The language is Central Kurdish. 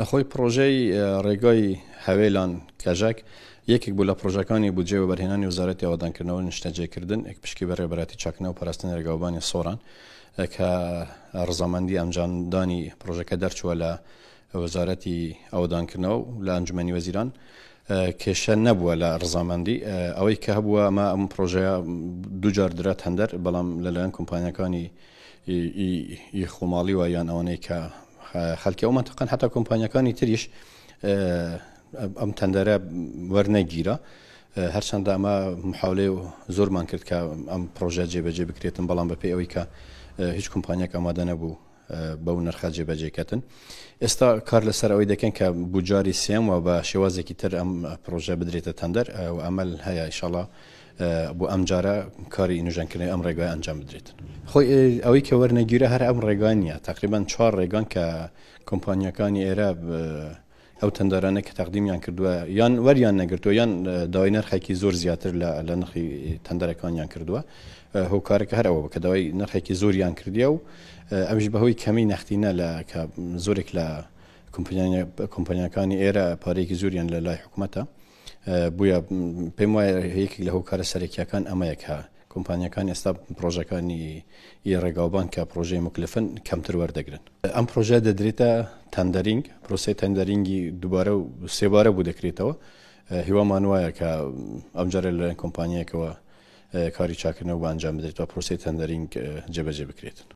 خۆی پڕۆژەی ڕێگای هەوێلان کەژەک یەکێک بوو لە پڕۆژەکانی بودجێ وەبەرهێنانی وزارەتی ئەوەدانکردنەوە نیشتەجێکردن ئەک پشکی بەڕێ بەراتی چاکنە و پاراستن ڕێگاوبانی سۆران کە ڕزامەندی ئەنجامدانی پڕۆژەکە دەرچووە لە وەزارەتی ئەوەدانکردنەوە لە ئەنجومی وەزیران کێشە نەبووە لە ڕزامەندی ئەوەی کە هەبووە ئەمە ئەم پرۆژەیە دوجار درات هەندەر بەڵام لەلایەن کۆمپانیەکانی خۆماڵی وە یان ئەوانەی کە خەلکی ئەو مەنتەقەن هەتا کۆمپانیاکانی تریش ئەم تەندەرە وەرنەگیرە هەرچەندە ئەمە محاولێ و زۆرمان کرد کە ئەم پرۆژە جێبەجێ بکرێتن بەڵام بەپی ئەوەی کە هیچ کۆمپانیاک ئامادە نەبوو بەو نرخە جێبەجێکەتن ئێستا کار لەسەر ئەوەی دەکەن کە بجاری سێم و بە شێوازێکی تر ئەم پرۆژە بدرێتە تەندەر و ئەمەل هەیە ئیشاڵا بۆ ئەم جارە کاری نوژەنکردنەوەی ئەم ڕێگای ئەنجام بدرێت خۆی ئەوەی کە وەرنەگیرە هەر ئەم ڕێگای نیە تقریبان چوار ڕێگان کە کۆمپانیەکانی ئێرە ئەو تەندەرانە کە تەقدیمیان کردووە یان وەریان نەگرتووە یان داوای نرخێکی زۆر زیاتر لە نرخی تەندەرەکانیان کردووە هۆکارەکە هەر ئەوە بکە داوای نرخێکی زۆریان کردیە و ئەوش بەهۆی کەمی نەختینە لە کە زۆرێک لە کۆمپانیەکانی ئێرە پارێکی زۆریان لە لای حکوومەتە بووە، پێم وایە یەکێک لە هۆکارە سەرەکییەکان ئەمەیە کە کۆمپانیاکان ئێستا پڕۆژەکانی ی ڕێگاوبان کە پڕۆژەی موکلفن کەمتر وەردەگرن. ئەم پڕۆژە دەدرێتە تەندەرینگ، پرۆسەی تەندەرینگی دووبارە و سێبارە بوو دەکرێتەوە، هیوامان وایە کە ئەمجارە لەلایەن کۆمپانیایەکەوە کاری چاکردنەوە بۆ ئەنجام بدرێت و پرۆسەی تەندەرینگ جێبەجێ بکرێت.